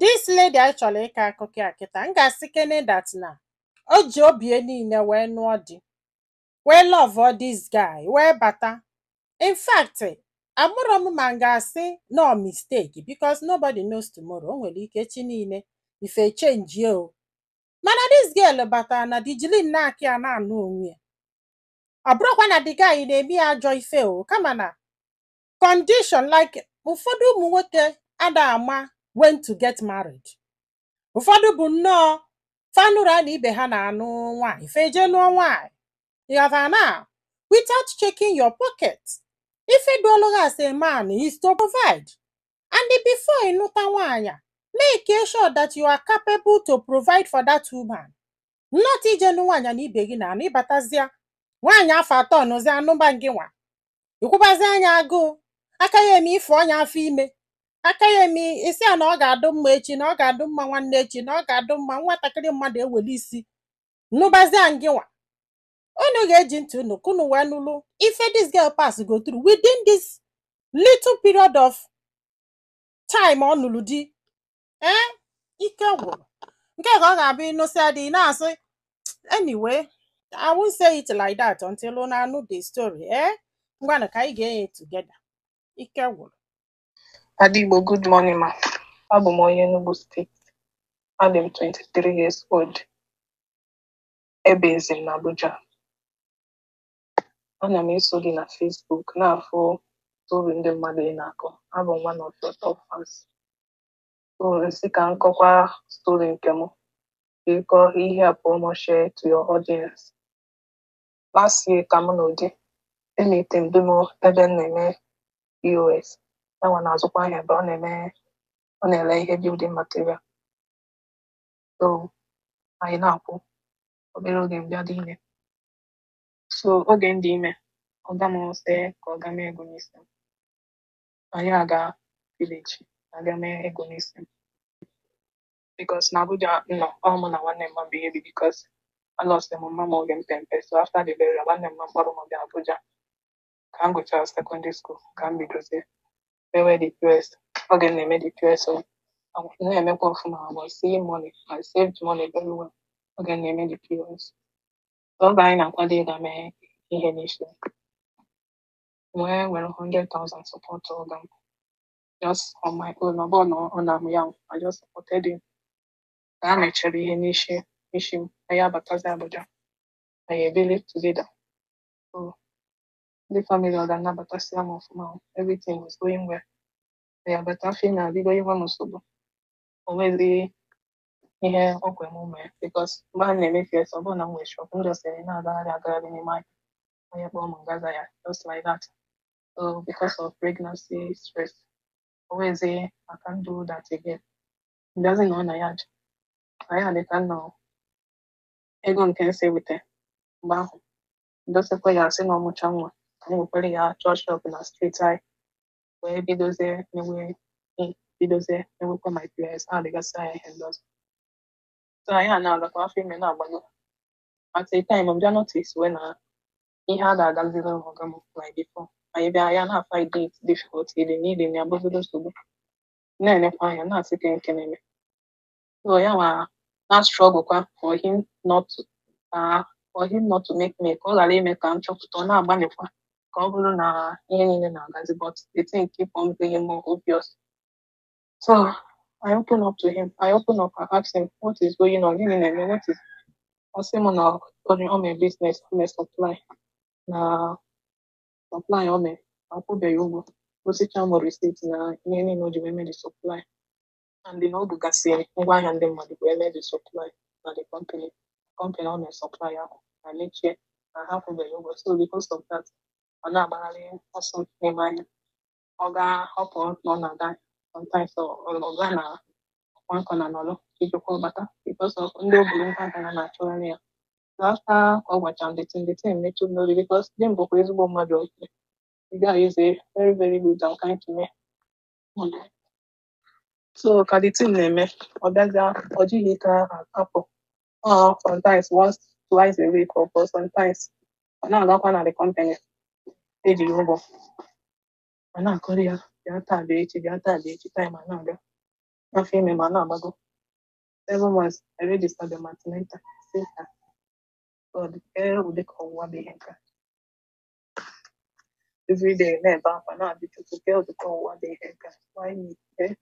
this lady anyị chọrọ ịkọ akụkọ ya kịta m ga-asịkene that na o ji obi ya niile wee nụọ di wee lọvụọ this guy wee bata in fact amarọ m ma m ga-asị na ọ mistake because nobody knows tomorrow o nwere ike echi niile ife chenjie o mana this girl batara na di jilinụ aka ya na-anụ onwe ya ọ bụrọkwa na the guy na-eme ya ajọ ife o kama na condition like ụfọdụ ụmụ nwoke ada ama when to get married ụfọdụ bụ nnọọ fa nụrụ na ibe ha na-anụ nwaanyị fa eje nụọ nwaanyị ị ghọtara na without checking your pocket ife dụụlụ gị as a man is to provide and before ị nụta nwaanyị a, make sure that you are capable to provide for that woman not i je nụ nwaanyị na ibe gị na-anụ ịbatazịa nwaanyị afụ atọnụzia nụba gị nwa ị kwụbazia nya agụụ aka ya eme ị fọnye ya afọ ime aka ya eme ị sị ya na ọ ga-adụ mma echi na ọ ga-adụ mma nwanne echi na ọ ga-adụ mma nwatakịrị mmadụ eweli isi nụbazia ngị nwa unu ga-eji ntị unu ka unu wee nụlụ ife this girl pass go through within this little period of time ọ nụrụ di ee ike gwụrụ nke ka ọ ga-abụ ị nụsịa di ị na-asị anyway I won't say it like that until unu anụ the story ee ngwanụ ka anyị gee nya together ike gwụrụ Ada Igbo, good morning, ma. Abụ m onye Enugu steeti. Adị m 23 years old. Ebizi m n'Abuja. ana m eso gị na Facebook na-afụ story ndị mmadụ ị na-akọ abụ m one of your top fans so m sị ka m kọkwa story nke m biko helpụọ m share to your audience last year ka m nụ di emeeti m di m ebe m na-eme POS ya nwa na-azụkwa ahịa ebe ọ na-eme ọ na-ele ihe building material so anyị na-akwụ obere oge m bịa dị ime so oge m dị ime ọga m sị ka ọ ga mee ego n'isi m anyị aga village aga mee ego n'isi m because na abuja m nọ ọ mụ na nwanne mma m bụ ihe bi because alọsị m mma m oge m pe mpe so after the burial nwanne mma m kpọrọ m bịa abuja ka m gụchara secondary school ka m bidozie mewe the pos oge m na-eme the pos ọ na-emekwa ọfụma I was seeing money I saved money very well oge m na-eme the pos oge anyị na-akwado ịga mee ihe n'isi m wee were 100,000 support ọga m just on my own ọ bụghị na ọ nara m ya I just supported him ka a mechara ihe n'isi m anyị abatazi Abuja anyị ebili together so ndị family ọga m nabatasịa m ọfụma everything was going well anyị abata afọ ime ebido inye m nsogbu o nweghị ihe o kwe m mee because mgbe m na-eme POS ọ bụghị na m nwere shop m just eh, na-agagharị agagharị n'ime ahịa onye kpọọ m m gaa zaa ya just like that so because of pregnancy stress always eh, I can't do that again m bịazi nọ na yard na yard ka m nọ ego nke m si weta mgbe ahụ dosekwa ya asị na m mụchaa nwa ka m wekwere ya chọọ shop na street anyị wee bidozie eme bidozie emekwa my POS addgasịa ya ihe ndị ọzọ so anyị ana-agakwa afọ ime na-agbanye at a time m bịa noticewe na ihe adịghị agaziri ọga m like before anyị abịa na-afind it difficult iri nri na-abụzido nsogbu na-enekwa anya na-asị kee nke na-eme so ya nwa na struggle kwa for him not to uh, for him not to make me ka ọ ghara ime ka m chọpụta ọ na-agbalịkwa ka ọ bụrụ na ihe niile na-agazi but the thing keep on being more obvious so I open up to him I open up and ask him what is going on gịnị na-eme what is ọ sị m na o mere business o mere supply na supply o mere akwụbeghị ya ụgwọ gosicha m receipt na ihe niile o ji wee mee the supply and na o bugasịrị ngwaahịa ndị mmadụ wee mee the supply na the company company ọ na-esupply ahụ emechie na ha akwụbeghị ya ụgwọ so because of that ọ na-agbagharị ọsọ n'ime ahịa ọ ga-ahọpụ na ọ na-ada sometimes ọ ga na one corner nọrọ chi jikwaa ọ bata because of ndị o buru ngwa gara na-achọgharị ya so after ka ọ gwachara m the thing the thing emetụ m n'obi because di m bụkwa ezigbo mmadụ oke the guy is a very very good and kind to me so ka the thing na-eme ọ bịazi ọ jighị ka apụ ọ sometimes once twice a week or sometimes ọ na-agakwa na the company eji ya ụgwọ a na-akọrọ ya bịa taa bịa echi bịa taa bịa echi time ana-aga afọ ime m ana-agbago seven months I registered the antenatal sister God ee ụdị ka ọnwụnwa bụ ihe nke a everyday na-ebe akwa na-ajụ chukwu kee ụdị ọnwụnwa dị ihe nke a why me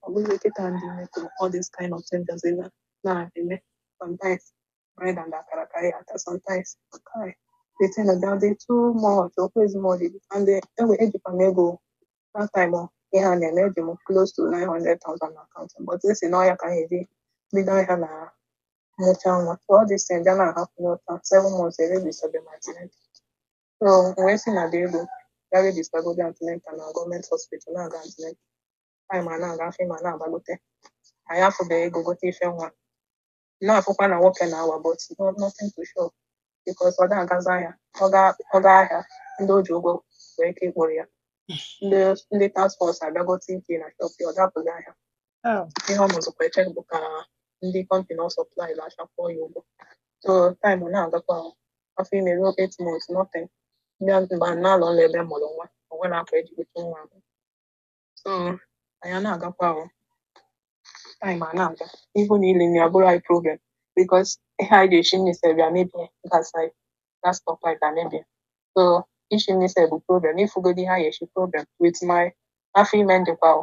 ọ bụghị kịta m dị ime kwuru all this kind of things does na na-eme sometimes bread and akara ka ya ata sometimes kai they tend to down dey too much okwu ezimọdị and enwe ejikwa m ego that time ihe a na-eme eji m close to 900,000 na akaụntụ but esi na ọya ka m ga-eji bido ahịa ma m mụcha nwa so all this thing bịa na-happen up to seven months erejistabe m antenatal So wee si na dị ego ga rejistagodo antenatal na gọọmenti hospital na-aga antenatal time a na-aga afọ m a na-agbagote anyị afụbeghị ego gote ife nwa na-afụkwa na nwoke na-awa but no- nothing to show because ọ da-agazi ahịa ọ ga- ọ ga ahịa ndị o ji ụgwọ nwee ike ịkpọrọ ya ndị ndị task force abịagote ike na shop ya ọ da-apụzị ahịa Oh. ihe ọ nọzịkwa eche bụ ka ndị kọmpani ọ sọplailụ ahịa kwụọ ya ụgwọ so taịmụ na-agakwa ahụ. afọ ime ruo eight months nothing bịa mgbe a na-alọ nla ebe mụrụ nwa o nwere akwa eji bute nwa ahụ so anyị na-agakwa ahụ taịmụ a na-aga ihe niile abụrụ anyị problem bikos ihe anyị ga-eshi nni sef bịa mebie gas anyị gas stove anyị bịa mebie so ishi nni sef bụ problem ifugodi ihe anyị eshi problem with my afọ ime ndịkwa ahụ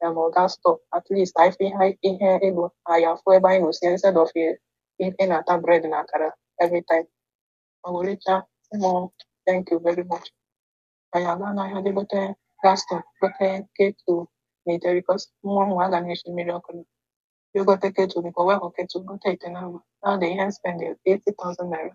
ya gote gas stove at least anyị fụ ihe ihe ego anyị afụ ebe anyị na-esi instead of ị ị na-ata bred na akara every time ọ werecha ịmụ thank you very much anyị aga n'ahịa je gote gas stove gote ketu na ite bikos nwa nwa aga na-esi mmiri ọkụ anyị gote ketu biko wepụ ketu gote ite na agwa na dị ihe spend 80,000 naira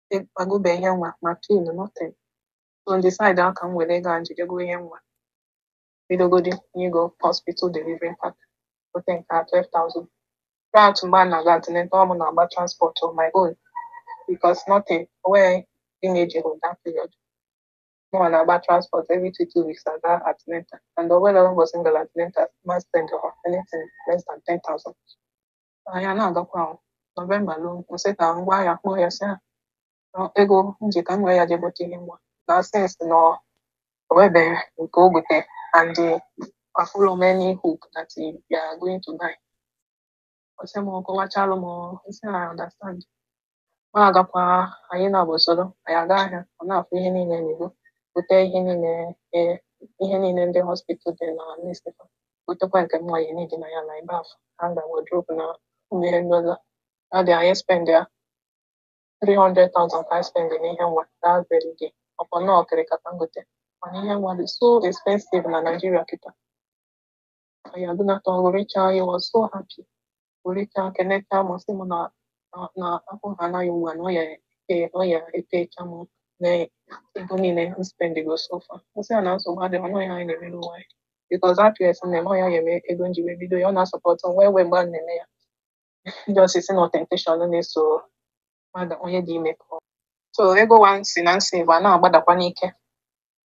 egobeghị ihe nwa ma pin nothing so m decide o ka m were ego a m ji je go ihe nwa bidogodi je go hospital delivery pack gote nke a 12,000 throughout mgbe a na-aga antenatal ọ mụ na-agba transport on my own because nothing onweghị dị m eji hụ that period mụnwa na-agba transport every two two weeks aga antenatal and onwebe single antenatal ma spend anything less than 10,000 anyị na-agakwa ahụ nọvemba luo m sị ka m gwa ya kpọọ ya sị ya "Nọ, ego m ji ka m wee ya jee gote ihe nwa na since na ọ nwebeghị nke o gote and afụrọ m any hope that he they are going to buy ọ sị m ọ kọwachalụ m m sị na I understand Ma agakwa anyị nabụ soro anyị aga ahịa, ọ na-afụ ihe niile n'ihu, gote ihe niile e, ihe niile ndị hospital dị na newspaper, gotekwa nke mma ya n'idi na ya na ebe afọ, hanga, wardrobe na ụmụ ihe ndị ọzọ. Ọ dị anyị spend ya 300,000 ka anyị spend n'ihe nwa that very day. Ọ kwa na okirika ka m gote. Mana ihe nwa dị so expensive na Nigeria kịta. ka ya dị nata ọ ṅụrịcha he was so happy ṅụrịcha kenecha m sị m na na- na afọ ha anaghị ugbu a na ọ ya ete- ọ ya etecha m na ego niile m spendigo so far nsị ya na nsogbu adịghị ọnụ ya anyị na-emere onwe anyị because at first nne m ọ ya nye m ego nji wee bido ya ọ na-asupport m wee wee mgbe a na-eme ya just sị na temptation na-eso mmadụ onye dị ime pụọ so ego wa nsi na nsave a na-agbadakwa n'ike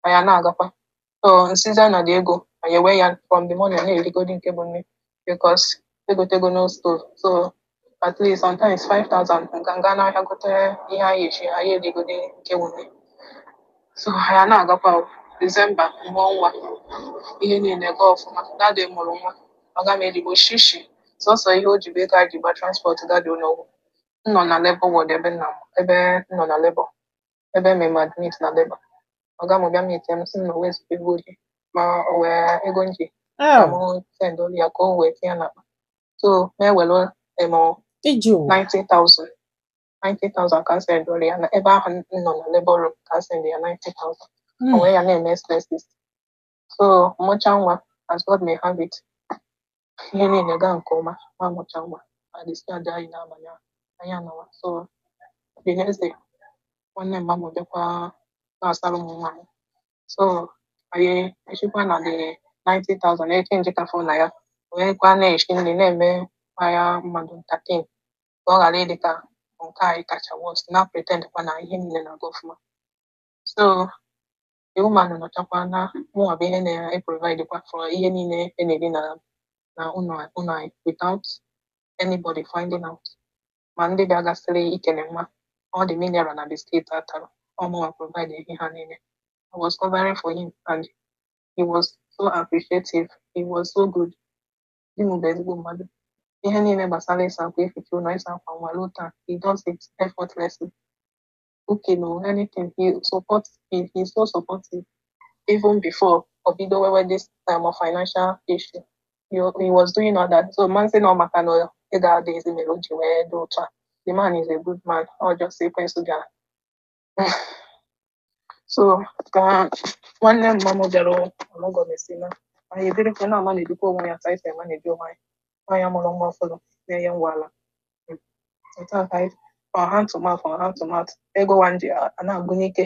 anyị na-agakwa so nsịzi ya na that ego anyị ewe ya from the money na-erigodi nke bụ nri because egotego foodstuff so at least sometimes 5000 nka nga n'ahịa gote ihe anyị eshi anyị erigodi nke bụ nri so anyị na-agakwa o. Disemba mụọ nwa ihe niile gaa ọfụma that day m mụrụ nwa ọga m ejighị shishi sọsọ ihe o ji bụ ego anyị ji gba transport that day ụlọọgwụ m nọ na labour ward ebe nna m ebe m nọ na labour ebe eme m admit na labour ọga m bịa meet m sị m na o nwezịghị ego o ji ma o nwee ego m ji ka m Oh, sendolu ya ka o wee tinye n'akpa so m ewere em iji ụwa. 90,000 90,000 ka m sendolu ya na ebe ahụ m nọ na labour room ka m send ya 90,000 o Mm. wee ya na-eme expenses so mụcha nwa as God may have it ihe niile gaa nke ọma ma mụcha nwa adischarge anyị n'abalị ahụ anyị anawa so the next day nwanne mma m bịakwa na-asara m nwa m so anyị eshikwa na the 90,000 e change ka fọ na ya wee kwa na-eshi nri na-eme ya mmadụ entertain ka ọ ghara ịdị ka nke anyị kacha worst na pretend kwa na ihe niile na-aga ọfụma so the woman nọchakwa naa mụnwa bụ ihe na-eprovide kwa for ihe niile e na-eri na na ụlọ ụlọ anyị without anybody finding out ma ndị bịagasịrị ikele nwa all the mineral na biskit a tara ọ mụnwa provide ihe ha niile I was covering for him and he was so appreciative he was so good di m bụ ezigbo mmadụ ihe niile gbasara ịsa akwa eficha ụlọ ịsa akwa nwa ruo taa he does it effortlessly okay no anything he support he he's so supportive even before o bido nwewe this time of financial issue he, he was doing all that so m ma-asị na maka na ị ga-ada ezi mere o ji wee dị otu a the man is a good man ọ just ekwensu ga so ka nwanne mma m bịara ọmụgọ mesị naa anyị ebirikwa na-amanagekwa onwe anyị ka anyị si emanagebu onwe anyị nwaanyị mụrụ nwa ọfụrụ na-enye nwa ala ọ hand to mouth ọ hand to mouth ego wa nji ana-agwụ n'ike